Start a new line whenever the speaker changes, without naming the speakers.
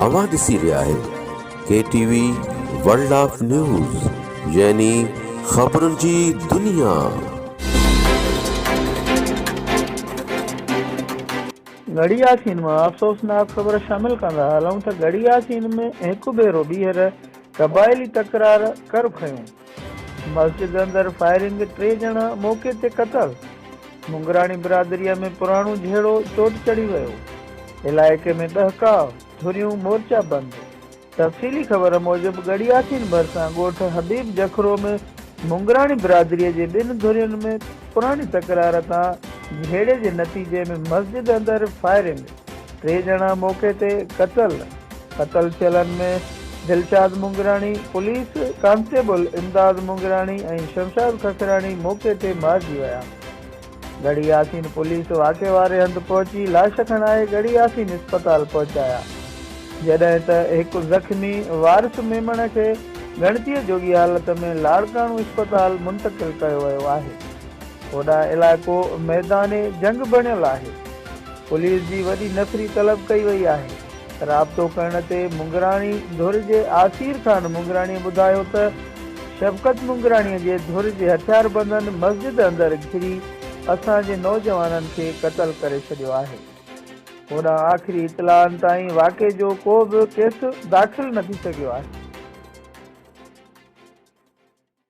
اوهان ڏسي رهيا آهيو K T V world of news يعني خبرن جي دنيا.
گهڙي ياسين مان افسوسناڪ خبر شامل ڪندا هلون ته گهڙي ياسين ۾ هڪ ڀيرو ٻيهر قبائلي تڪرار ڪر کنيو. مسجد اندر فائرنگ، ٽي ڄڻا موقعي تي قتل، مڱراڻي برادريء ۾ پراڻو جهيڙو چوٽ چڙهي ويو، علائقي ۾ ڏهڪاء، ڌريون مورچا بند. تفصيلي خبر موجب ڳڙهياسين ڀرسان ڳوٺ حبيب جکرو ۾ مڱراڻي برادريء جي ٻن ڌرين ۾ پراڻي تڪرار تان جهيڙي جي نتيجي ۾ مسجد اندر فائرنگ، ٽي ڄڻا موقعي تي قتل، قتل ٿيلن ۾ دلشاد مونگراڻي، پوليس ڪانسٽيبل امداد مونگراڻي ۽ شمشاد ککراڻي موقعي تي مارجي ويا. ڳڙهي ياسين پوليس واقعي واري هنڌ پهچي لاش کڻائي ڳڙهي ياسين اسپتال پهچايا جڏهن ته هڪ زخمي وارث ميمڻ کي ڳڻتيء جوڳي حالت ۾ لاڙڪاڻو اسپتال منتقل ڪيو ويو آهي. هوڏانهن علائقو ميدان جنگ بڻيل آهي. پوليس جي وڏي نفري طلب ڪئي وئي آهي. رابطو ڪرڻ تي مڱراڻي ڌر جي آسير خان مڱراڻي ٻڌايو ته شفقت مڱراڻي جي ڌر جي هٿياربندن مسجد اندر گهري اسان جي نوجوانن کي قتل ڪري ڇڏيو آهي. هوڏانهن آخري اطلاعن تائين واقعي جو ڪو به ڪيس داخل نه ٿي سگهيو آهي.